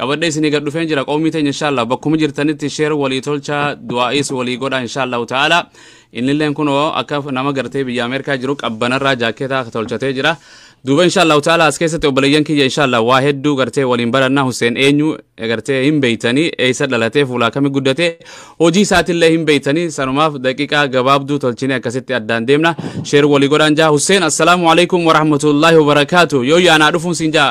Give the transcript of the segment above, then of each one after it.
qabadhee isinii gad dhufeen jira qoomii teenya inshaallah bakkuma jirtanitti sheer walii tolchaa du'aa'iis walii godhaa inshaallahu ta'ala innilleen kunoo akka nama gartee biyya ameerikaa jiru qabbanarraa jaakkeetaa tolchatee jira duuba inshaallahu ta'ala as keessatti obboleeyyan kiyya inshaallah waa hedduu gartee waliin barannaa Hussein eenyu gartee hin beeytanii eessa dhalatee fuulaa kami guddate hojii isaatillee hin beeytanii sanumaaf daqiiqaa gabaabduu tolchinee akkasitti addaan deemna sheer walii godhaan jaa Hussein assalaamu alaikum warahmatullaahi wabarakaatu yoo yaanaa dhufuun siin jaa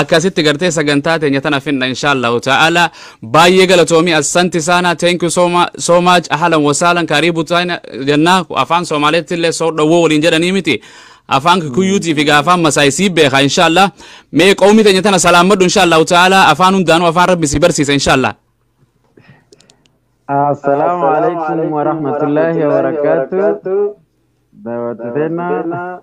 akkasitti gartee sagantaa teenya tana finna inshaallahu ta'ala baay'ee galatoomi assanti saana thank you so, ma so much ahlan wasaalan karibu taana jenna afaan soomaaleetti illee soo dhowwoo waliin jedhanii miti afaan kikuyyuutii fi afaan masaay sii beeka inshaallah mee qawmi teenya tana salaamadhu inshaallahu ta'ala afaan hundaanuu afaan rabbi si barsiisa inshaallah Assalamu alaikum warahmatullahi wabarakatuh. Daawwattoota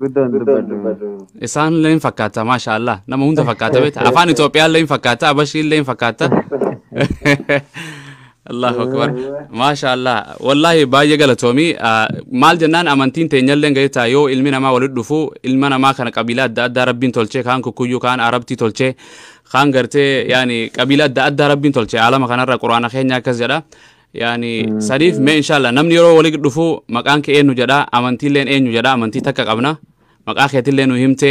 Guddaan dubbadhu. Isaan illee hin fakkaata maashaa Allah nama hunda fakkaata beekta afaan Itoophiyaa illee hin fakkaata Abashii illee hin fakkaata. Allahu akbar maashaa Allah wallaahi baay'ee galatoomi Ah, maal jennaan amantiin teenya illee gaheetaa yoo ilmi namaa walitti dhufu ilma namaa kana qabiilaa adda addaa rabbiin tolchee kaan kukkuyyuu kaan arabtii tolchee kaan gartee yaani qabiilaa adda addaa rabbiin tolchee alama kanarra quraana keenya akkas jedha yaani saniif mee inshallah namni yeroo wali dhufu maqaan kee eenyu jedha amantiilleen eenyu jedha amantii takka qabna maqaa keetillee nu himte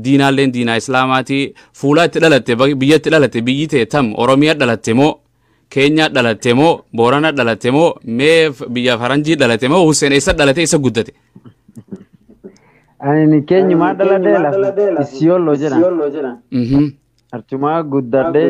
diinaalleen diinaa islaamaati fuulaa itti dhalatte ba- biyya itti dhalatte biyyi tee tam oromiyaa dhalatte moo keenyaa dhalatte moo boorana dhalatte moo mee f- biyya faranjii dhalatte moo hussein eessa dhalate eessa guddate Ani keenyumaa dhaladhee lafa isiyooloo jedhan Mhm. archumaa guddadhee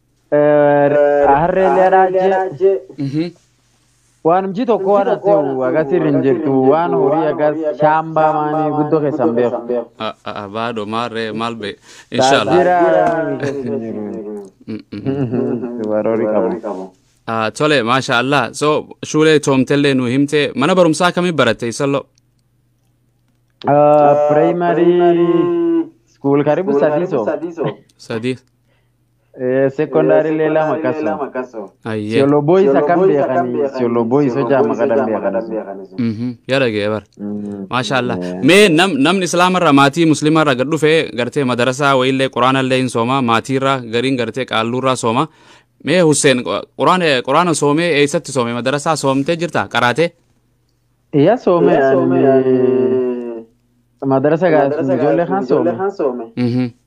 Harreeleedhaa jee Mhm. waan hojii tokko waan ati agarsiirri hin jirtu waan horii agas shaambaa maanii guddoo keessan beeku. A- a- a- Baadho maarree maal bee. Inshallah. Taajira namni keessa hin jiru. Mm, mm. Warroori qabu. Ah, Tole maasha Allah. So shuulee toomtellee nu himte mana barumsaa akkamii baratte isalloo? Primary school karibu sadii so. Sadii. Eh, Secondaary illee lama kaso. Ayyee. Siyolo boy isa kan beekanii siyolo boy isa jaama kadhan beekanii sun. Mhm. Yaa dhaga'e bar. Mm, Maashaallah. eh, Mee nam namni islaamarraa maatii musliimarraa gad dhufe gartee madarasaa wayiillee quraanallee hin sooma maatiirraa gariin gartee qaalluurraa sooma. Mee Husseen quraana quraana soomee eessatti soome madarasaa soomtee jirta qaraatee? Iya soome ani madarasa gaafsuma ijoollee kan soome. Mhm.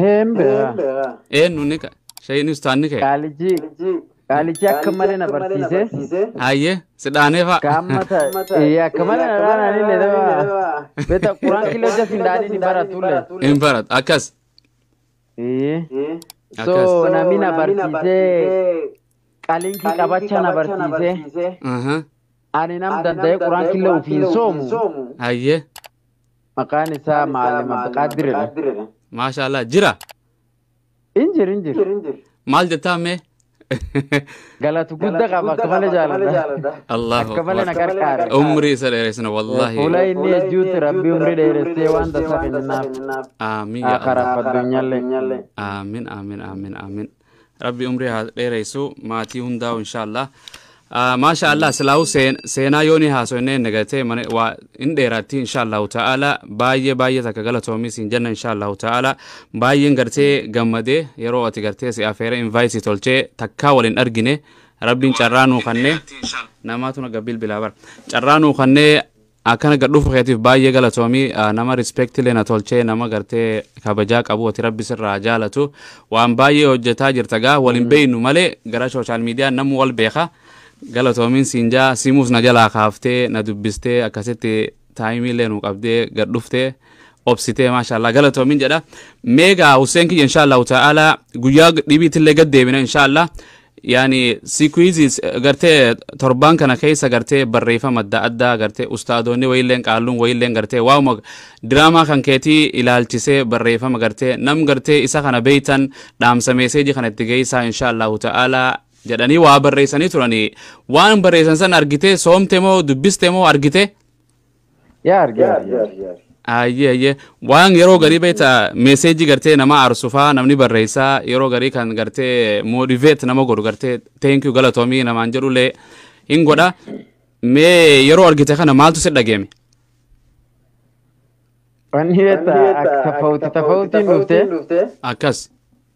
Heen beekaa. Eenyu ni ka- shahiin ustaan ni ka'e. Qaalichi qaalichi akka malee na barsiise. Hayyee si dhaanee fa'a. Kaamma ta ee akka malee na dhaanaan illee daba. Beeta quraan killee hojja sin dhaaniin hin baratu illee. Hin baratu akkas. Ee. So Akkas. namni na barsiisee qalinkii qabacha na barsiisee Aha. ani nam danda'ee quraan killee ofiin soomu. Hayyee. Maqaan isaa Maalim Abdiqaadir jedhama. Maashaallah jira. Hin jiru hin jiru. Maal jettaa mee? Galatu gudda qaba akka malee jaaladha. Allahu Akka malee na akbar. gargaara. Umrii isa dheeresina wallaahi. Fuula inni ejjuutti rabbi umrii dheeressee waan tasaa kennaaf. Aamiin yaa Akara Allah. faddunyallee. Aamiin aamiin aamiin aamiin. Rabbi umrii haa dheereysu maatii hundaa'u inshaallah. Ah, Maasha Allah silaa'u seen- seenaa yoo ni haasofne hin dagatee mana waa hin dheeraatti inshaallahu ta'ala baay'ee baay'ee takka galatoomii siin jenna inshaallahu ta'ala baay'een gartee gammadee yeroo ati gartee si afeera invite tolchee takkaa wal hin argine rabbiin carraa nuu kannee namaatu naga bilbilaa bara carraa nuu kannee Akkana gad dhufu keetif baay'ee galatoomi nama respect illee na tolchee nama gartee kabajaa qabu ati rabbi sirraa haa jaalatu waan baay'ee hojjetaa jirta gaa wal hin beeynu malee gara social media namu wal beeka galatoomiin siin jaa simuus na jalaa kaaftee na dubbistee akkasitti taayimii illee nu qabdee gad dhuftee obsitee maashaallah galatoomiin jedha meegaa Hussein kiyya inshaallahu ta'ala guyyaa dhibiitti illee gad deebina inshaallah yaani siikuizis gartee torbaan kana keessa gartee barreeffama adda addaa gartee ustaadoonni wayiilleen qaalluun wayiilleen gartee waa'uma diraamaa kan keetii ilaalchisee barreeffama gartee nam gartee isa kana beeytan dhaamsa meeseejii kana itti geessaa insha allahu ta'aalaa jedhanii waa barreessanii turanii waan barreessan san argitee soomte moo dubbiste moo argite Yaa arge arge. Ayyee ayyee waan yeroo garii beekta meeseejii gartee nama aarsu faa namni barreessaa yeroo garii kan gartee moodiveet nama godhu gartee teenkiyuu galatoomii namaan jedhullee hin godha mee yeroo argite kana maaltu si dhageeme. Wanni beekta akka tafawuti tafawutiin dhuftee. Akkas.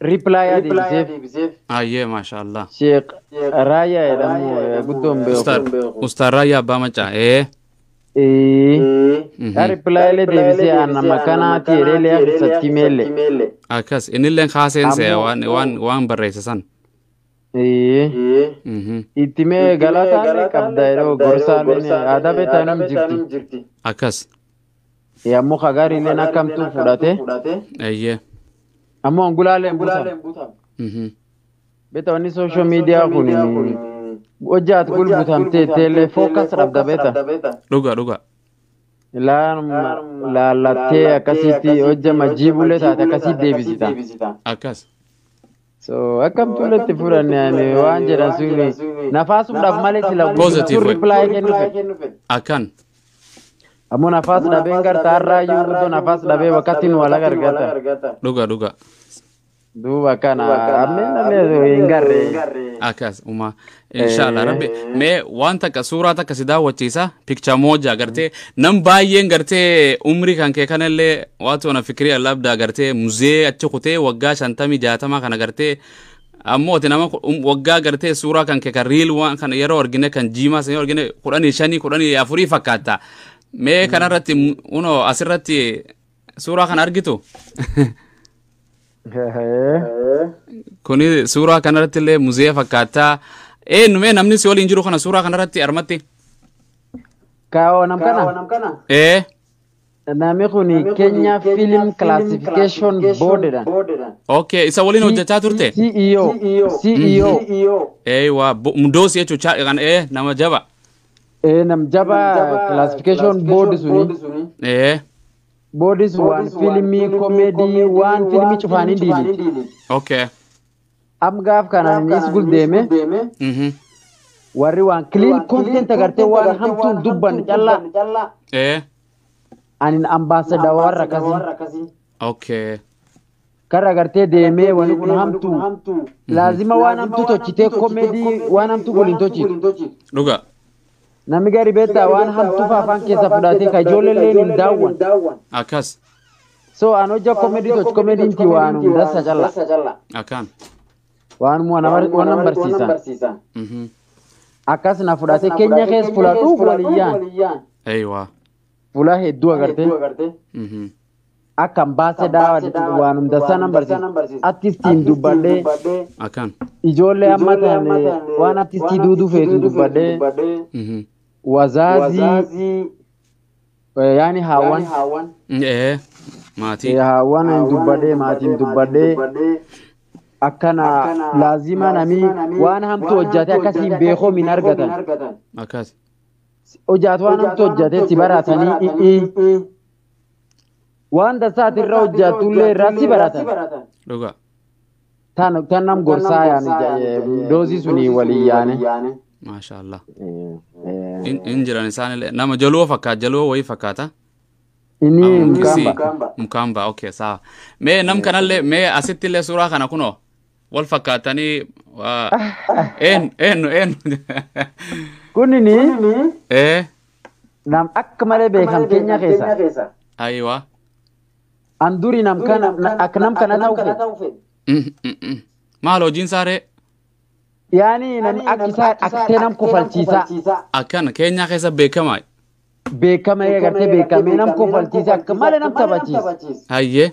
Reply yaa deebiseef. Hayyee maashaa Allah. Sheikh Raayyaa jedhamu eh, guddoo hin beeku. Ustaad Ustaad Raayyaa Abbaa Maccaa. Ee. Ee, Mhm. yaa reply illee deebisee aan nama kanaati jedhee illee keessatti meelle. Akkas innillee kaaseen se'a Ammoo- waan waan waan barreesse san. Ee, Mhm. itti mee galataa illee qabda yeroo gorsaa illee aadaa beektaa hin jirti. Akkas. Ammoo ka gaariilleen akkamtuu fudhate. Eeyyee. Ammoo angulaalee hin butan. Mhm. Beta wanni social media kun hojjaat gul butamtee teellee focus dhabda beta. Dhuga dhuga. Laanuma laallattee akkasitti hojja majjiibullee taate akkasitti deebisita. Akkas. So akkam tullatti furanne ani waan jedhan suni nafaasumdhaaf malee sila Positive guutuun way. reply kennu fedhe. Akkan. Ammoo nafaas dhabeen garta har'aa iyyuu guutuu nafaas dhabee bakkatti nu wala gargata. Dhuga dhuga. Duuba kana ammeen illee hin garree. Akkas umaa. Inshallah rabbi mee waan takka suuraa takka si daawwachiisa picture moja gartee nam baay'een gartee umrii kan kee kanallee waatu ana fikirii allabdaa gartee muzee achi kutee waggaa shantamii jaatamaa kana gartee ammoo ati nama ku- um- waggaa gartee suuraa kan kee kan riil waan kana yeroo argine kan jiimaa sana yeroo argine kudhanii shanii kudhanii afurii fakkaata mee kanarratti mu- unoo asirratti suuraa kana argitu kuni suuraa kanarratti illee muzeeya fakkaata eenyumee namni si waliin jiru kana suuraa kanarratti armatti Kaawoo nam kana ee namni kun Kenya Film Classification Board dha. okay isa waliin hojjechaa turte CEO. CEO. eewa mudoosi jechuun nama jaba Ee nam jaba classification board suni ee boardis waan fiilmii komeedii waan fiilmii cufaanii diiliti. okay Am gaaf kanaan inni is guldeeme mhm warri waan clean content agartee waan hamtuun dubban callaa ee anin ambaasadawar akkasii. okay Karra gartee deemee wani kun hamtuu. Laazima waan hamtuu tochitee komedii waan hamtuu gol hin tochitu. Dhugaa. Namni gari beektaa waan hamtuu faa afaan keessaa fudhaatee ka ijoollee illee hin daawwan. Akkas. So an hojja komedii tochi komediin ti waan hundassa calla. Akkaan. Waanuma nama waan nama barsiisan. Mhm. Akkas na fudhaatee keenya keessa fudhadhuu waliyyaan. Eeywaa. Fuula hedduu agartee Mhm. akka hin baase daawa jechuudha waan hunda sana barsiisa. Artistiin dubbadhee Akkaan. ijoollee amma taane waan artistii duuduu feetu dubbadhee Mhm. wazaazii eh, yaani haawwan Ee. eh, Maatii. haawwan hin dubbadhee maatiin dubbadhee akkana laazima namii waan hamtu hojjate akkasiin beekoom hin argatan. Akkas. hojjaatu waan hamtu hojjate si baratanii dhi'ii waan dasaati irra hojjaatullee irraa si baratan dhugaa tan tan nam gorsaa yaani doozii sunii walii yaane. maashaa allah In- in jiran isaanillee nama jaloo fakkaata jaloo wayii fakkaata Inni Ah, mukamba. mukamba. mukamba okay sawa mee nam kanallee mee asittillee suuraa kana kunoo wal fakkaatanii waa eenyu eenyu eenyu Kunini ee nam akka malee beekam keenya keessa. ayiwa An duri nam kana na- akka nam kana ta'u fedhe. Mm, mm, mm. maal hojiin saaree Yaani nam akka isaa akkatee nam kofalchiisaa. akkana keenyaa keessa beekamaa Beekama eegartee beekamee nam kofalchiisaa akka malee nam taphachiisa. hayyee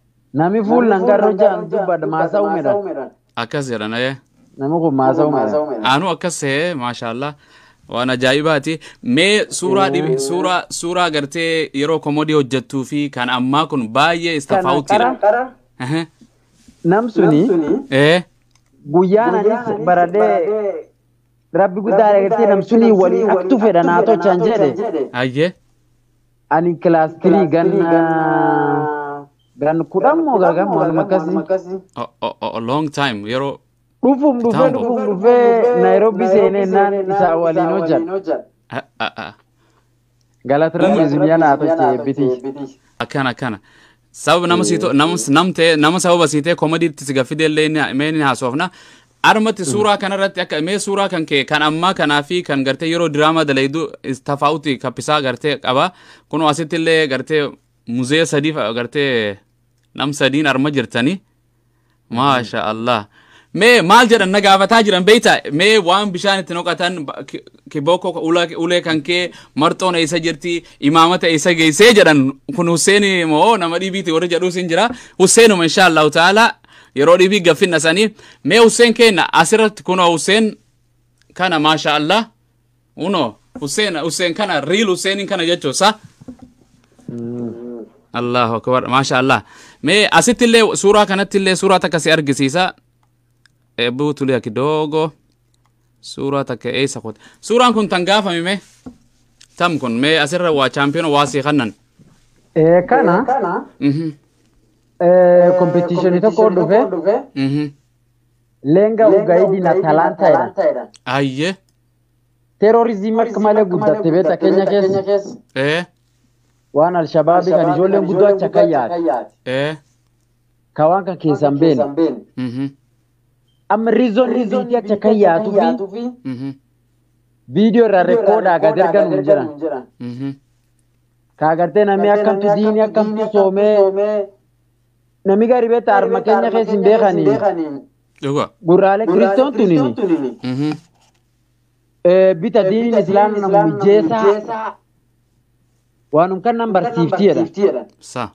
Nami fuul nan garro jaan dubbad maasa umedhan. Akkas jedhan ee. Nami kun maasa umedhan. Aanu akkas ta'e maashaallah waan ajaa'ibaati. Mee suuraa dhibi suuraa suuraa gartee yeroo komodii hojjettuu fi kan ammaa kun baay'ee istafaawutiidha. Qara Ehe. nam suni Ee. guyyaan anis baradhee rabbi guddaa dhagatee nam suni walii aktu fedha naa tochaan jedhe. Ayyee. Ani kilaas tirii ganna gan kudhan moo gagan waan akkasii. O- o- o- o- long time yeroo Dhufuun dhufee Kitambo. dhufuun dhufee Naayiroobii seenee naan isaa waliin hojjedha. a- a- a- Galata rabbi isin yanaa tolchee bitii. akkana akkana sababa nama sii to- nama nam ta'e nama sababa sii ta'e komedii itti si gaffidee illee ni- mee ni haasofna armatti suuraa kanarratti akka mee suuraa kan kee kan ammaa kanaa fi kan gartee yeroo diraamaa dalaydu tafaawuti kappisaa gartee qaba kunoo asitti illee gartee muzee sadii fa- gartee nam sadiin arma jirtanii maasha allah mee maal jedhan na gaafataa jiran beeyta mee waan bishaan itti noqatan ba- ki- kibookoo ka- ula- ulee kan kee marxoon eessa jirti imaamata eessa geessee jedhan kun husseenii moo nama dhibiiti warri jedhuus hin jira husseenuma insha allahu taala yeroo dhibii gaffinna sanii mee husseen keenna asirratti kunoo husseen kana maasha allah Uno, Hussein, Hussein kana, real Husseinin kana jechuu sa? Allahu akbar, maasha Allah. Mee asittillee suuraa kanattillee suuraa takka si argisiisa. Eebbuu tuliya kidogo. Suuraa takka eessa kute. Suuraan kun tan gaafame mee? Tam kun mee asirra waa chaampiyoona waa si kannan. Eh, Kana Mhm, eh, kompetiishinii tokko dhufe mhm. leenga ugaidina talaanta jedhan. Ayyee. Terrorism akka malee guddatte beekta keenya keessa ee waan alshabaabii kan ijoolleen guddoo achi akka yaate ee ka waan kan keessan beekne mhm amma riizoon riiziitii achi akka yaatuu fi mhm viidiyoo irraa rekkoodaa gad ergan hin jiran mhm ka agartee namni akkamtu diinii akkamtu soomee namni gaarii beekta harma keenya keessa hin beekanii Dhugaa. Gurraalee kiristoon tunini Mhm. eh, bita diiniin islaamni nama mijeessaa waanum kan nan barsiifti jedha. Sa.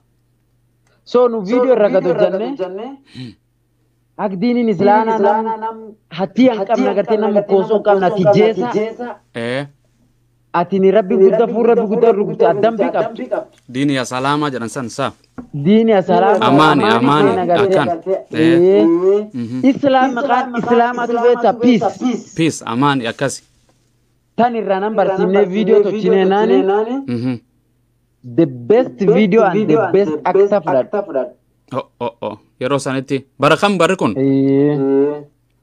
So nu viidiyoo irra gad hojjannee akka diiniin islaanaa nam hattii hin qabne agartee nam mokkoonsoo hin qabne ati jeessaa Ee. Atini Rabbi gudda fuul Rabbi gudda rukute dambi qabdu. Diini ya salama jedhan san sa. Diini ya salama Amani amani akan. Ee. Islam maqaan islama tu beeta peace. Peace amani akkasi. Tan irraa nan barsiifnee viidiyoo tolchinee naani. The best video and the best actor fudhadha. Oh oh oh yeroo sanitti bara kam barri kun?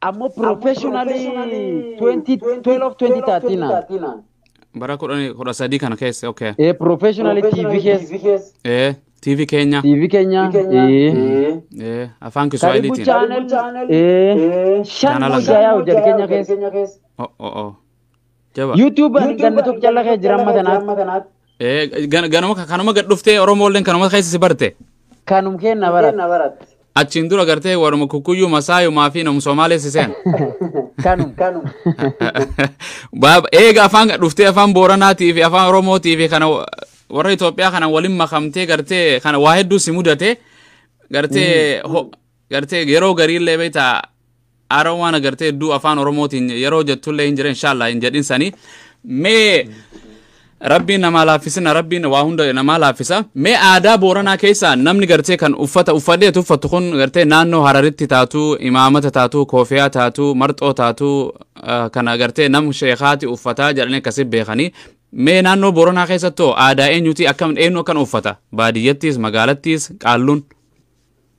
Ammoo professionally 2012-2013 Bara kudhan- kudha sadii kana keessa okay. ee professionally TV keessa Ee TV keenya. TV keenya ee Ee afaan Karibu Kiswaahiliitiin. channel ee shan Channel mojayaa hojjate keenya keessa Oh oh oh. Jaba. YouTube ani ganna tokko calla kee jira amma tanaatti. Eh, gan- ganama kanuma gad dhuftee Oromoolleen kanuma keessa si barte. Kanum kenna barat. Achiin dura gartee waruma kukkuyyuu masaayumaa fi nam Somaalee si seen. Kanum. Baaba eega afaan gad dhuftee afaan Booranaatii fi afaan Oromootii fi kana wa- warra Itoophiyaa kana waliin makamtee gartee kana waa hedduu si mudate gartee ho- Gartee yeroo gariillee beektaa aara waan agartee hedduu afaan oromootiin yeroo jettullee hin jira inshaallah hin jedhin sanii mee rabbiin namaa laaffisina rabbiin waa hunda namaa laaffisa mee aadaa booranaa keessaa namni gartee kan uffata uffadhee tuffattu kun gartee naannoo hararitti taatu imaamata taatu koofiyaa taatu marxoo taatu ah, kana gartee nam sheekaati uffataa jedhanii akkasi beekanii mee naannoo booranaa keessattu aadaa eenyuti akkam eenyu akkan uffata baadiyyattis magaalattis qaalluun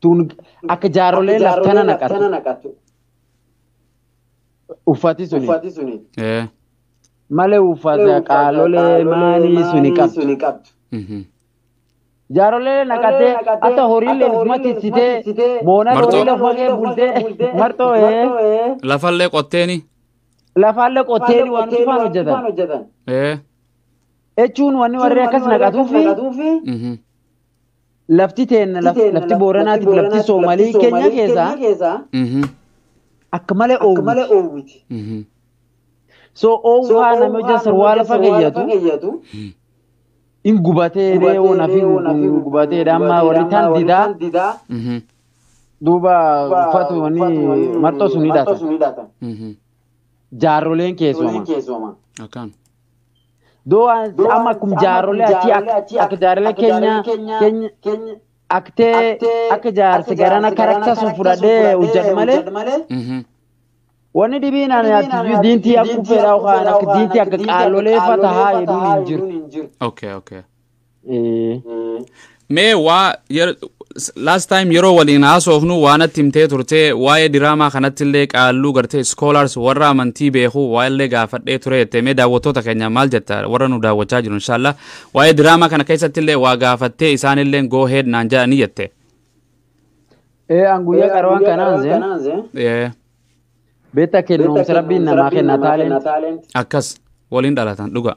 Tuun akka jaarrolee laftana naqatu. Uffati suni. Ee. Malee uffata qaalolee maalii suni qabdu. Mhm. Jaarrolee naqatee akka horiilee mati sitee moona Martoo. horiilee hogee bultee martoo ee Lafallee qotteeni. lafaallee qottee waan cufaan hojjetan. Ee. Jechuun wanni warri akkas naqatuu fi Mhm. Lafti teenna lafti Booranaatiif lafti Soomalii keenya keessaa akka malee oowwiti. So oowwaa nama hojja sarwaa lafa keeyyatu in gubatee reewoo nafi gubatee amma warri taan didaa duuba uffatu wanni marxoo sun hidhata. Jaarroleen keessumaa. Akkaan. Doo amma akkum jaarrolee atii akka jaarrolee keenya keenya aktee akka jaarsi garana karakta sun fudhadhee hojjadhu malee Mhm. wanni dhibiin ani atiyyuu diintii akkuu fedhaa yookaan akka diintii akka qaalolee fatahaa hedduun hin jiru. Okay, okay. Mee waa yer- s- last time yeroo waliin haasofnu waa natti himtee turte waa'ee diraamaa kanatti illee qaalluu gartee scholars warra amantii beeku waa illee gaafadhee ture jette mee daawwattoota keenya maal jetta warra nu daawwachaa jiru inshaalla waa'ee diraamaa kana keessatti illee waa gaafattee isaan illee go head naan jedhanii jette. Ee an guyyaa qarwaan kanaan zeen Ee, beektaa kennuumsa rabbiin namaa kenna taaleen Akkas waliin dhalatan dhugaa.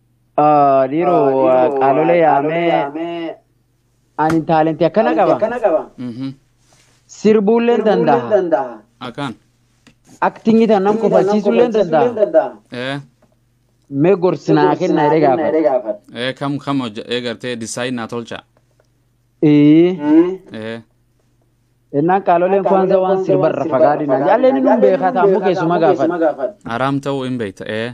Dhiiro qaalolee yaamee ani taalentii akkana qaba. Sirbuulleen danda'a. Akaan. Aktingii tan nam kofalchiisuulleen danda'a. Ee. Mee gorsinaa kennaa jedhee gaafata. Ee kam kam hojja ee gartee disaayin naa tolcha. Ee. Ee. Innaan qaaloleen kwanza waan sirbarra fagaadina. Jaalleen inni hin beekaa taa'amuu keessuma gaafata. Araam ta'uu hin beekta. Ee.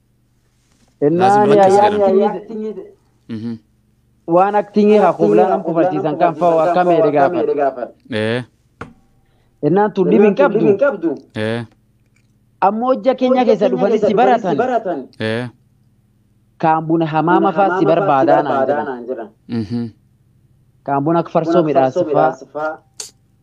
Innaan Laazim duratti ayyaanni seeran. ayiid Mhm. waan aktingii haa kublaa nam kufarsiisan kan fa'u akka meedhe gaafata. Ee. Innaan tun dhibi hin qabdu. Ee. Ammoo hojja keenya keessa dhufanii si baratan. Ee. Kaan buna hamaama fa'aa si barbaadaa naan jedhan. Mhm. Kaan buna akka farsoo midhaasifaa.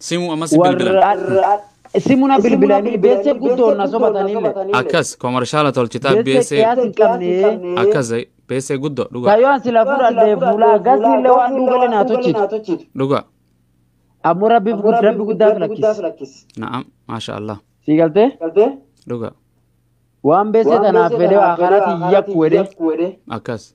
Simu amasi bilbilan. Warra simuna bilbilanii beessee guddoon na sobatanille. Akkas komarshaala tolchitaa Beessee beessee qiyaas hin qabne. akkas beessee guddoo dhugaa Kayoon sila fudhadhee fuulaa gasiille waan dhuugale naa tochitu. dhugaa Ammoo rabbiif gud- rabbi guddaaf lakkis. na'am maasha Allah Sii galtee? dhugaa Waan beessee tanaaf fedhee akkanatti yakku wedhee. akkas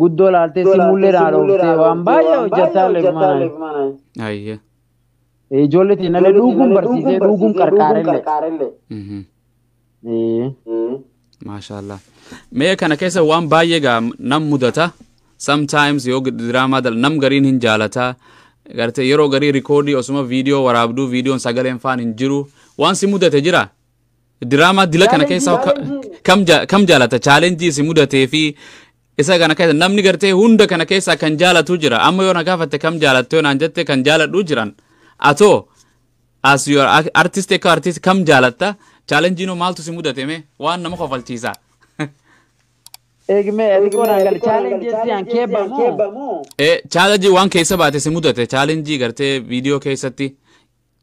Guddoo laaltee simuullee naa dhooftee waan baay'ee hojjattaa leefumanaan. Ayyee. Ijoollee teenallee dhuuguun barsiisee dhuuguun qarqaarellee. Mhm. Ee. Maashaallah. Mee kana keessa waan baay'ee gaa nam mudata. Sometimes yoo diraamaa dal nam gariin hin jaalata. Gartee yeroo garii rikoodii osuma viidiyoo waraabduu viidiyoon sagaleen faan hin jiru. Waan si mudate jira? Diraamaa dila kana keessaa ka- Challenge- kam ja- kam jaalata chaalenjii isin mudatee fi isa kana keessa namni gartee hunda kana keessaa kan jaalatu jira amma yoo na gaafatte kam jaalatte yoo naan jette kan jaaladhu jiran atoo as your artist akka artist kam jaalatta chaalenjiinoo maaltu si mudate mee waan nama kofalchiisa Eegmee xiqqoo naan gali chaalenjii siyaan keebba moo? chaalenjii waan keessa baate si mudate chaalenjii gartee viidiyoo keessatti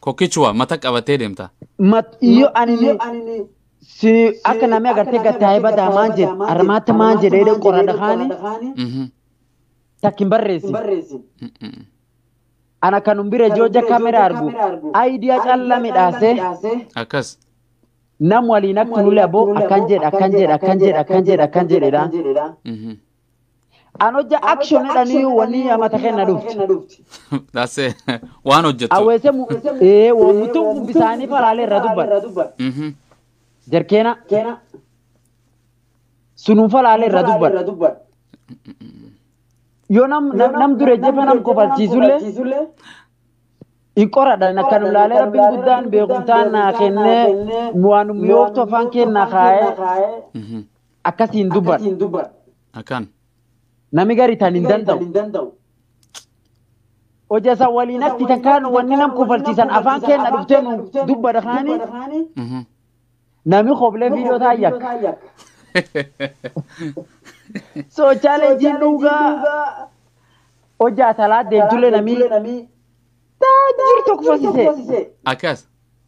Kokichwa mata qabatee deemta. Mat iyo anini si akka namni agartee gattaa'ee badaa maan jedhe armaatti maan jedhe jedhe qorana kaani Mhm. takkin barreessi. Mm-mm. Ana kan nun bira ijoo ija kamera argu ayidiyaa calla midhaasee Akkas. nam waliin akka nulle aboo akkan jedhe akkan jedhe akkan jedhe akkan jedhe akkan jedhedha. Mhm. An hojja action jedhanii wanii amata kenna dhufti. That's it. Waan hojjettu. Awweese mu ee waan mutu bisaanii falaalee irra dubban. Mhm. Jarkeena sunuu falaalee irra dubban. Yoo nam nam nam dure jefa nam kofalchiisullee hin qoradhan akka nu laalee rabbiin guddaan beekumtaan naa kennee waan mi'ooftu afaan keennaa kaa'ee Mhm. akkasiin dubban Akan. nami gari tan hin danda'u. Hoja isa waliin atti takkaan wanni nam kofalchiisan afaan keenna dhuftee nu dubbadha kaanii Mhm. nami koblee viidiyoo taa yakka. So challenging dhugaa hojjaa salaa deemtullee namii taajir tokko fasise. Akas.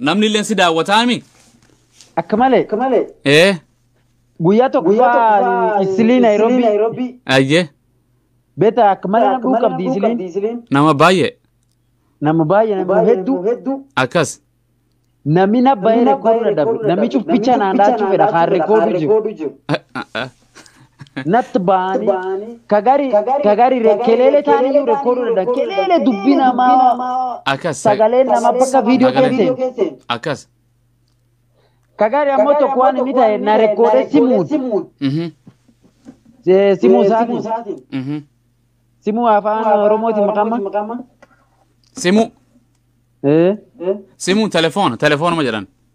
Namni illee si daawwataami? Akka malee Ee, guyyaa tokko fa'aa isilii Naayiroobii ayyee, beeta akka malee na dhuu qabdi isiliin nama baay'ee nama baay'ee nama hedduu akkas. namni na baay'ee rekoordi dadhabe namni cuf bichaa naan dhaachuu fedha kaan rekoordu jiru. Ah, ah, ah. natti ba'anii ka gari ka gari re- keleele taanii iyyuu rekooduu danda'a keleele dubbii namaa Akkas. sagaleen namaa bakka viidiyoo Sagaleen- keesseen Akkas. ka gari ammoo tokko waan inni ta'e na rekoodee simuun Mhm. eh, simuu isaatiin Mhm. simuu afaan oromooti maqamma Simu. Eh, Simu telefoona. Telefoonuma jedhan.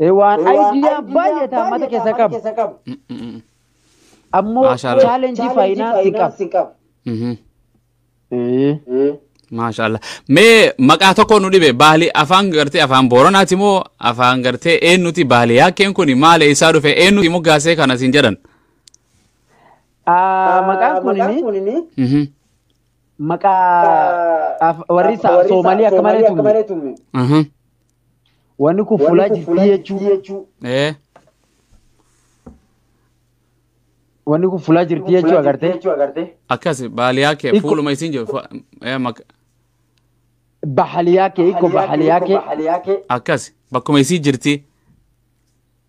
Eh, waan idea baay'ee taa mata keessa qabu. Ammoo Maashaallah. challenge finance qabu. Mhm. Eh. Maashaallah. Mee maqaa tokko nu dhibe baali afaan gartee afaan booranaati moo afaan gartee eennuti baali yaakkeen kun maal eessaa dhufe eennuti moggaasee kana siin jedhan. Ah, Maqaan kunini Mhm. maqaa af- warri isaa Soomalii akka malee tumne. Mhm. Wanni kun fulaa jirtii jechuu. Ee. Wanni kun fulaa jirtii jechuu agartee. Akkas baaliyaa kee Ikko- fuuluma isiin jiru. fa- ee, mak- Bahaliyaa kee ikko bahaliyaa kee. Akkas bakkuma isii jirti.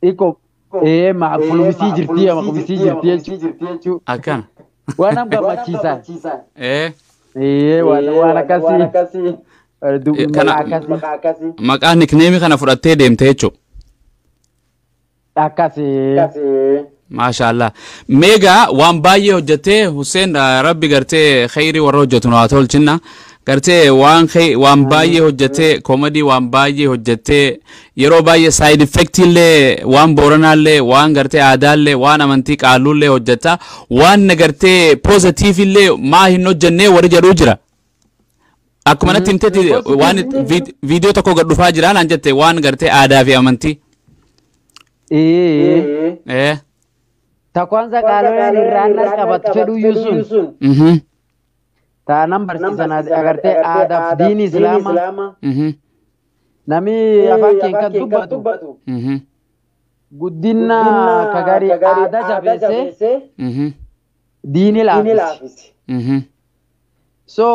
Iko ee maa qulubisii jirtii ama qubisii jirtii jechuu. Akkana. Waan am gammachiisaan. Ee. Ee waan waan akkasii. Eh, du- Kana- Maqaa akkasii. Maqaa nikneemii kana fudhattee deemte jechuudha. Akkasii. Maashaallah. Meegaa waan baay'ee hojjettee Hussein eh, rabbi gartee kheyrii warra hojjetu nu haa tolchinna. Gartee waan khey- waan baay'ee hojjettee komadii waan baay'ee hojjettee Yeroo baay'ee side effect illee waan booranaa illee waan gartee aadaa illee waan amantii qaalluu illee hojjetta waan na gartee positive illee maa hin hojjennee warri jedhuu jira. Akkuma natti himtetti Positive waan illee hin vid- viidiyoo tokko gad dhufaa jira naan jette waan gartee aadaa fi amantii. Ee. Eh. Takwaansa qaaloleen irraan nas qabattu fedhuyyuu sun. Mhm. Taanan barsiisan agartee aadaaf diin islaamaa. Mhm. Nami afaan keen kan dubbatu Mhm. guddinna ka gari aada jabeesse Mhm. diini laafise. Mhm. So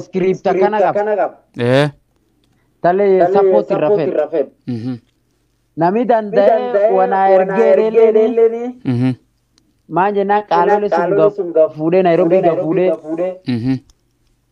script akkana qaba. Ee. Tale support irra fedha. Mhm. Nami danda'e wanaa ergee reelleeni Mhm. maan jennaan qaalole sun gaf fuudhee Nairobi gaf fuudhee Mhm.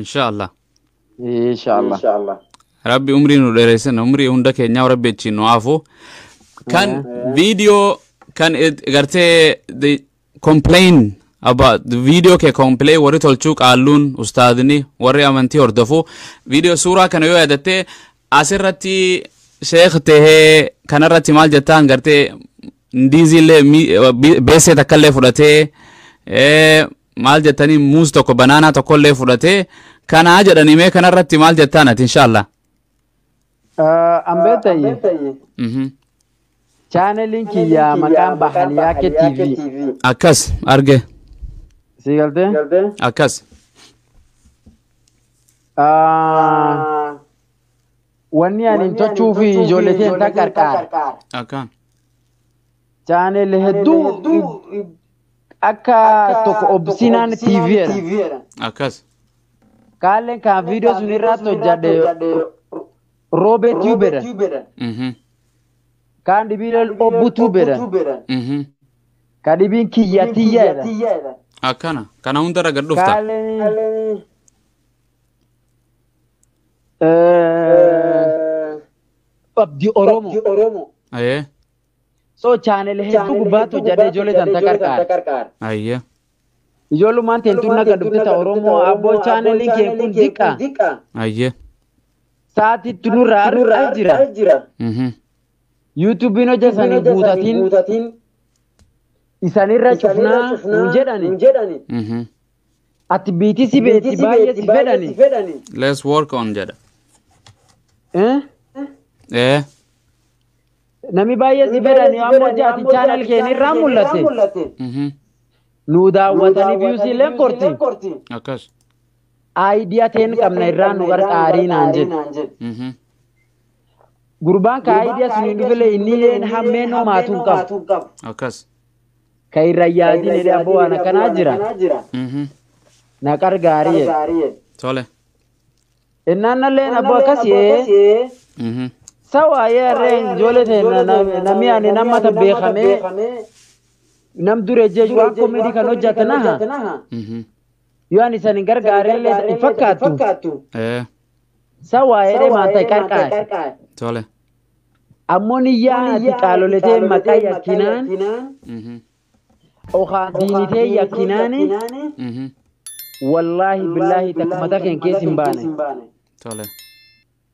insha allah insha allah insha allah rabbi umrii nu dheeressin umrii hunda keenyaa rabbi achiin nu haafu kan viidiyoo kan it- gartee the complain about the video kee complain warri tolchuu qaalluun ustaadni warri amantii hordofu viidiyoo suuraa kana yoo yaadatte asirratti sheekh tahee kanarratti maal jettaan gartee ndiiziillee mi- be- beessee takkallee fudhatee eh, maal jettanii muuz tokko banaanaa tokkollee fudhatee kanaa jedhanii mee kanarratti maal jettaan ati inshaallah. Ambee ta'e Mhm. chaaneliin kiyya maqaan Bahaliyaa kee TV Akkas arge sii galtee? akkas Ah, Wanni ani hin tolchuu fi ijoollee ta'e hin qarqaara. akkaan Channel hedduu akka tokko obsinaan TV jedha. Akkas. Kaalleen kan viidiyoo sun irratti hojjadhe Roobee Tube jedha. Mhm. Kaan dhibiileen Obbu Tube jedha. Mhm. Kan dhibiin Kiyya Tiyya jedha. Akkana. Kana hundarra gad dhufta. Kaalleen Abdi Oromoo. Ayee. So channel hedduu gubbaatti hojjadhe ijoollee tan ta qarqaar. Ayya. Ijoollumaan teentuun naga dhufte ta Oromoo abboo channelii kee kun diqqa. Ayya. Saatitti nurraa argaa jira. Mhm. YouTube'n hojjetanii guutatiin isanirra cufnaa nuun jedhani. Mhm. Ati biitii si beetti baay'ee si fedhani. Let's work on jedha. Eh? Eh. Nami baay'ee si fedhan yoo ammoo jaati channel keenya irraa mul'ate Mhm. nu daawwatanii views illeen korti Akkas. idea teen qabna irraa nu gargaarii naan jedhe. Mhm. Gurbaan ka idea sun hin dhufile inni illeen hammeen homaatu hin qabu. Akkas. Ka irra yaadin jedhee abboo waan akkanaa jira Mhm. na gargaarii jedhe. Tole. Ennaannalleen abbo akkasi Mhm. sawaayee harreen ijoollee teenya namni ani nama ta beekamee nam dure jechu waan komeedii kan hojjate naha Mhm. yoo ani isan hin gargaarellee hin fakkaattu Eh, sawaayee maanta qarqaare tole. ammoo niyyaa ati qaaloletee maqaa yakkinaan Mhm. Okaa diini tee yakkinaani Mhm. wallaahi billaahi takka mata keen keessa hin baane. Tole.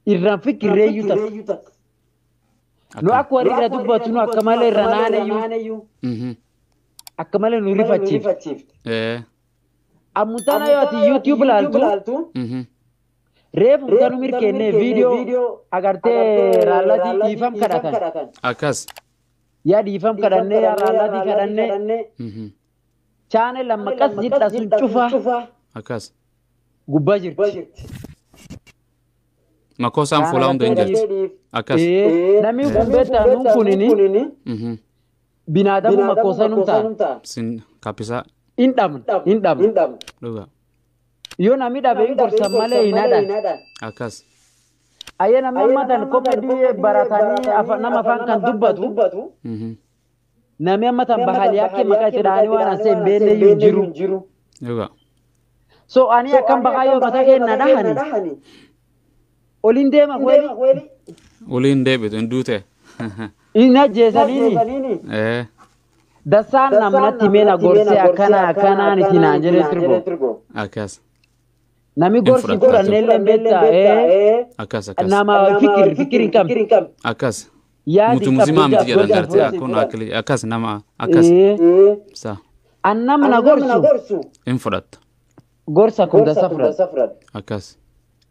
Irraan fikirreeyyu takka. Nu Akka. akka warri irra dubbatu nu akka malee irra naanayyu Mhm. akka malee nu rifachiifte. Eh. Ammutana yoo ati YouTube laaltu Mhm. reefu kan nu mirkeennee viidiyoo agartee raallati dhiifam kadhatan. Akkas. yaa dhiifam kadhannee yaa raallaatii kadhannee Mhm. chaane lamma qas jidha sun cufaa Akkas. gubbaa jirti. Makkoo isaan fuulaa hunda hin jirti. Akkas. Ee, Namni kun beektaa nuun kunini Mhm. binaadamu makkoosaa num ta'a. Sin kappisaa Hin dhabna. Hin dhabna. dhugaa. Yoo nami dhabe hin gorsan malee hin hadhan. Akkas. Ayyee namni amma tan komedii baratanii afa- nama afaan kan dubbatu Mhm. namni amma tan bahaliyaa kee maqaa itti dhahanii waan asee hin beekne iyyuu hin jiru. Dhugaa. So ani akkan bahaa yoo mataa kee na dhahani Oliin deema kuweeli. Ulii hin deebitu hin duute. Hin ajjeesaniini. Ee. Dassaan namnatti meena gorsee akkana akkanaan itti naan jedhee tirgo. Akkas. Nami gorsi fudhatu. godhannee illee beektaa. Ee. Akkas akkas. Nama fikir fikir hin qabne. Akkas. Yaadi Mutu musimaa qabdu miti jedhan jaartii gorsi. kun akkili akkas nama akkas. Ee. Sa An nama na gorsu. hin fudhatta. Gorsa kun dassa fudhata. Akkas.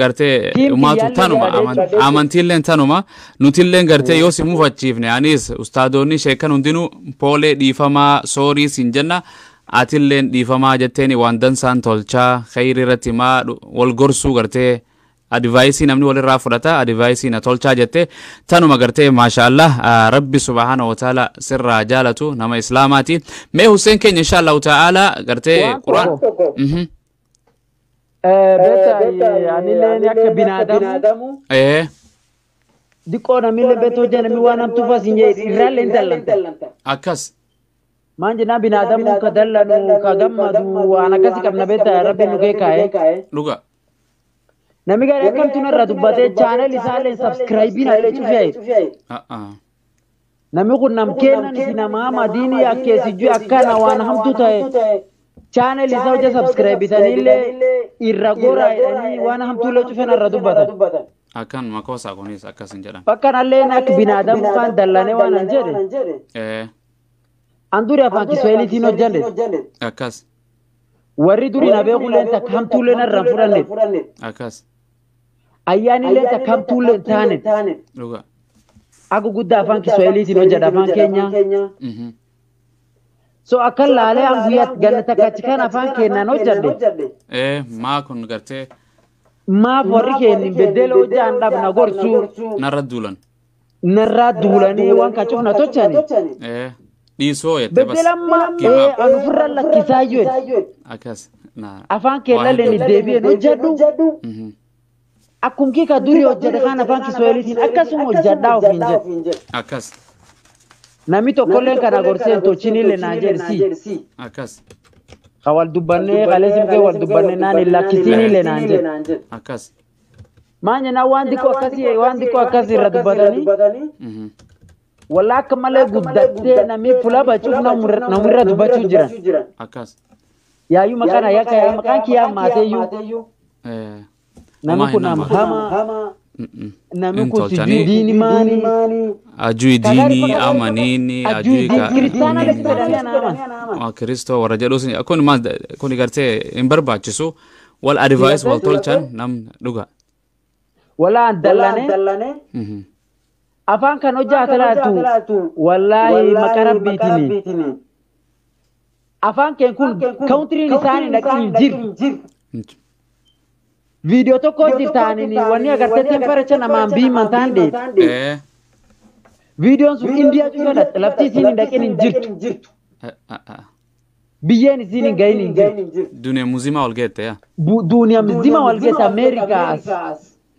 gartee Diin umaatu kiyyaallee tanuma yaadee aman- calleessu. amantiilleen tanuma nutilleen gartee yoo si mufachiifne anis ustaadoonni sheekan hundinuu poolee dhiifamaa soorii siin jenna atilleen dhiifamaa jetteeni waan dansaan tolchaa kheyri irratti maa dhu- wal gorsuu gartee advaayisii namni walirraa fudhata advaayisii na tolchaa jette tanuma gartee maashaallah ah, rabbi subhaana wataala sirraa jaalatu nama islaamaati mee husseen keenya inshaallahu ta'aala gartee Waan quraan tokko. Mhm. Beektaayee anileen akka binaadamu Ee. diqqoo namillee beektu hojja namni waan hamtuu fas hin jedhe irraallee hin tallanta. Akkas. Maan jennaan binaadamu ka dallanu ka gammadu waan akkasi qabna beektaa rabbi nu keekaa'e. Dhuga. Namni gaarii akkamtu narra dubbatee chaanel isaallee sabskiraayibiin allee cufee. A'a. Nami kun nam keennan isi nama hama diini yakke sijui akkana waan hamtu ta'e channel isa hojja subscribe bitanille irra gora jedhani waan hamtulle cufe narra dubbatan. Akkan makoosaa kunis akkas hin jedhan. Fakkanalleen akka binaadamu kaan dallane waan an jedhe Ee an duri afaan kiswahilitiin hojjanne akkas warri duri na beekulleen takka hamtuullee narra hin fudhanne akkas. Ayyaanni illee takka hamtuu illee hin taane. Dhugaa. Akka guddaa afaan Kiswahiliitiin hojjedha afaan keenya. Mhm. So akka laalee an guyyaa ganna takka achi kan afaan keenyaan hojjedhe. Eh, maa kun gartee Maaf warri keenya beddeela hojjaan dhabna gorsuu. narra duulan. narraa duulanii waan kachuuf na tochani Eh, dhiisoo jettee bas. beddelamma Give ee up. an ofirra lakkisaa jedhe Akkas. Na. afaan kee Waa lalleen hedduu. deebi'een hojjedhu Mhm. akkum kii ka durii hojjedhe kaan afaan kiswahiliitiin akkasuma hojjedhaa ofiin jedhe Akkas. namni tokkolleen kana gorseen tochinillee naan jedhe si Akkas. ka wal dubbannee kaleessi mukee wal dubbannee naan hin lakkisiinillee naan jedhe Akkas. Maal jennaan waan xiqqoo akkasii waan xiqqoo akkasii irra dubbatanii Mhm. wallaa akka malee guddattee namni fuula bachuuf namirra dubbachuu jiran. Akkas. Yaayyuu maqaan ayyaa akka yaa maqaan kiyyaa maateeyyuu Eh, namni kun nama. hama Mm-mm. namni Hin kun tolchanii. sijuu diini maani. Ajui diinii amaniini ajui ka. Kiristaanaa dha jedhanii anaaman. Waa Kiristoo warra jedhus kun maal kun gartee hin barbaachisu Wal advice wal tolchan nam dhuga. Walaan dallanee dallanee Mhm. afaan kan hojjaata laaltu wallaahi maqaa rabbiitini. Afaan keen kun kawuntiriin isaanii dhaqii hin jiru. Inch- Viidiyoo tokko hojjetaanii wanni agartee temperature namaan biiman taan dheedu. Eh, Viidiyoon sun indiyaa cufa dhaqxe lafti isiin hin dhaqin hin jirtu. eh, ah, ah. Biyyeen isiin hin gahin hin jirtu. Duniya muzimaa wal geette yaa. Bu- Duuniyaa mizima wal geessa Ameerikaa as.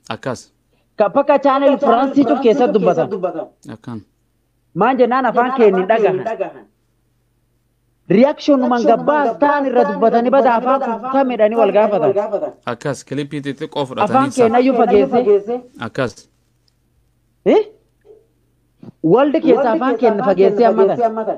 Akkas. Ka bakka chaanel Firaansii cuf keessatti dubbatan. Akkan. Maan jennaan afaan keenya hin dhagahan. Riyaakshoonumaan gabbaas ta'an irra dubbatanii bada afaan kutamedhanii wal gaafatan. Akkas kilipii xixiqqoo Afaan fudhatanii keenya isaa. iyyuu fageessee. Akkas. Eh? Waldi keessa afaan keenya fageessee hammatan.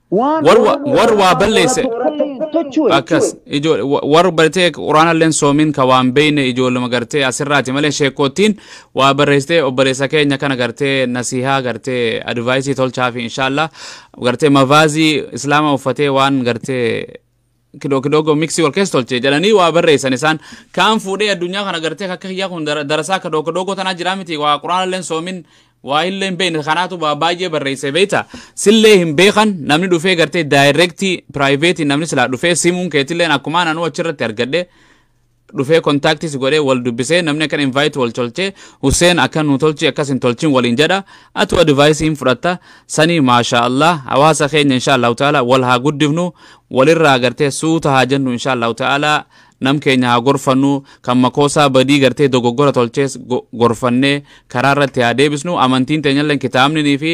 Waan War wa- Oromoo war irraa waa afaan balleesse. Oromoo irraa tokko tochuu akkas jechuudha. ijoole wa- warri bartee quraanalleen soomiin ka waan beeyne ijoolluma gartee asirraati malee sheekkoottiin waa barreessitee obboleessa keenya kana gartee nasihaa gartee advaayisii tolchaafi inshaallah gartee mavaazii islaama uffatee waan gartee kidoo kidogo mixi wal keessa tolche jedhanii waa barreessan isaan kaan fuudhee addunyaa kana gartee akka kiyyaa kun dara- darasaa kidoo kidogo tanaa jiraa miti waa quraana illeen soomin waa illee hin beekne kanaatu waa baay'ee barreesse beekta sillee hin beekan namni dhufee gartee daayirektii piraayiveetii namni silaa dhufee simuun keetilleen akkumaan anuu achirratti argadhe dhufee contact si godhee wal dubbisee namni akkan invite wal tolchee Hussein akka nu tolchi akkas hin tolchin waliin jedha atu advice hin fudhatta sanii maashaa Allah hawaasa keenya inshaa Allah ta'ala wal haa guddifnu walirraa agartee suuta haa jennu inshaa Allah ta'ala nam keenya haa gorfannu kan makoosaa badii gartee dogoggora tolchees go- gorfannee karaa irratti haa deebisnu amantiin teenyalleen kitaabninii fi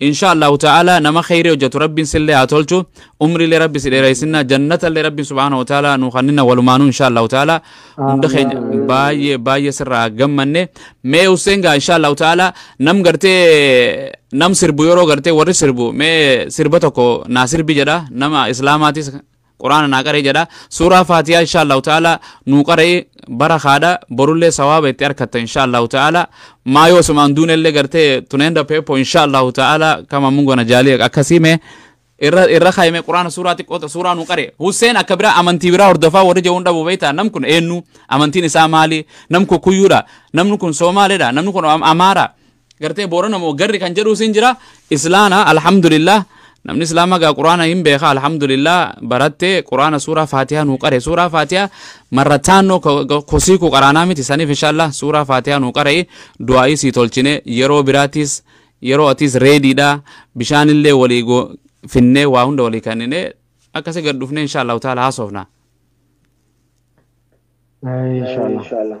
Inshaa Allahu ta'ala nama kheyri hojjatu Rabbiin sillee haa tolchu umriilee Rabbi si dheereysinna jannatallee Rabbiin subhaana wa ta'ala nu kanninna walumaanuu inshaa Allahu ta'ala hunda keenya baay'ee baay'ee sirraa gammanne mee Hussein gaa inshaa Allahu ta'ala nam gartee nam sirbu yeroo gartee warri sirbu mee sirba tokko naa sirbi jedha nama islaamaatis quraana naa qara'i jedha suuraa faatiyaa insha allahu ta'ala nuu qara'i barakaadha borullee sawaaba itti arkatta insha allahu ta'ala maa yoo sumaan duunellee gartee tuneenda peepo insha allahu ta'ala kama mungona jaalii akkasii mee irra irra kaayime quraana suuraa xiqqoota suuraa nu qare Hussein akka biraa amantii biraa hordofaa warri jehuun dhabu beektaa nam kun eenyu amantiin isaa maali nam kun kuyyuudha namni kun soomaalidha namni kun Am- amaara gartee boorana moo garri kan jedhuu siin jira islaana alhamdulillah namni islaama gaa quraana hin beeka alhamdulillah barattee quraana suuraa faatiyaa nuu qare suuraa faatiyaa marrataannoo kosii kuu qaraanaa miti saniif inshaallah suuraa faatiyaa nuu qare du'aa'ii sii tolchine yeroo biraatiis yeroo atiis reediidha bishaanillee walii go- finnee waa hunda walii kennine akkasi gad dhufnee inshaallahu taala haasofna Inshallah.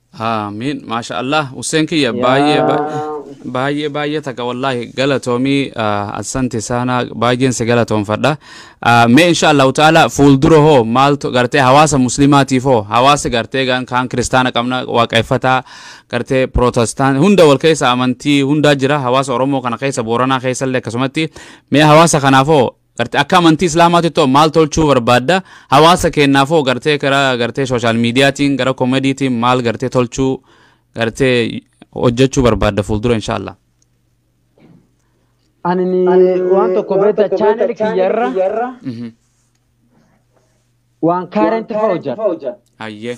Aamiin maasha Allah Hussein kiyya baay'ee yaa baay'ee baay'ee baay'ee takka wallaahi galatoomii ah, assanti saanaa baay'een si galatoomfadha Ah, mee insha Allahu ta'ala fuuldura hoo maaltu gartee hawaasa muslimaatiif hoo hawaasa gartee gan- kaan kiristaana qabna waaqeffataa gartee pirootestaan hunda wal keessa amantii hundaa jira hawaasa Oromoo kana keessa Booranaa keessa illee akkasumatti mee hawaasa kanaaf hoo Garte akka amantii islaamaatittoo maal tolchuu barbaadda? Hawaasa keennaafoo gartee gara gartee social mediatiin gara komediitiin maal gartee tolchuu gartee hojjechuu barbaadda fuuldura inshaallah. Ani ni waan tokko beekta chaanel kiyyarra Mhm. waan kaarenti fa'aa hojjadha. Hayyee.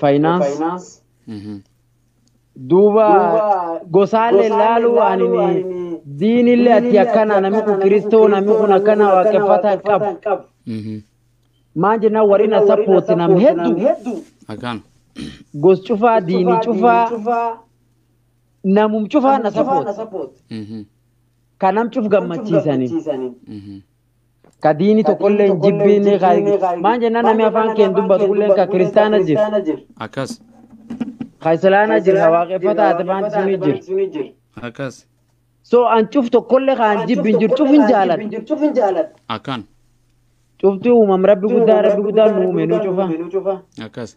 Faayinaansi. Mhm. Duuba gosaalee laaluu ani diinillee ati akkana namni kun kiristoo namni kun akkana waaqeffata hin qabu. Mhm. Maan jennaan warri na sappooti nam hedduu Akkaan. gos cufaa diini cufaa namum cufaa na sappooti. Mhm. Kanam cuf gammachiisanii. Mhm. Ka diini tokolle injibbiinne ka maan jennaan nami afaan keen dubbatu kulleen ka kiristaana jir. Akkas. Ka islaana jir ka waaqeffataa atefaanti suni jir. Akkas. So an cuf tokkolle ka an jibbi hin jiru cuf hin jaaladha. Akkan. Cufti uumam rabbi guddaa rabbi guddaan nu uume nu cufa. Akkas.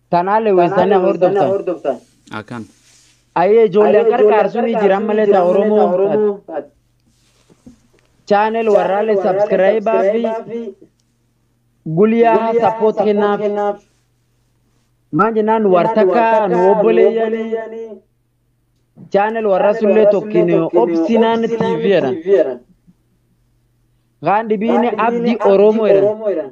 Tanaa Lewis Tanaa tana Lewis Tanaa hordoftan. hordoftan. Akan. Ayee ijoollee Ayee ijoollee qarqaarsuun ni jiran malee taa Oromoo. Oromoo. Channel warraalee subscribe fi gulyaa support kennaaf. Maan jennaan war takka nu obboleeyyanii. Channel warra sullee tokkin obsinaan TV jedhan. Kaan dhibiin abdi Oromoo jedhan.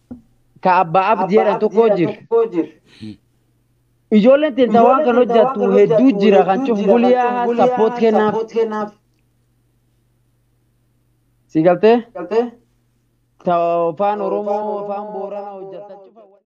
ka abbaa abdi jedhan tokkoo jira. Ijoolleen teenna waan kan hojjattu hedduu jira kan cufu guliyaa sappoot kennaaf. Si galtee? Ta afaan Oromoo afaan Booranaa hojjattan cufa.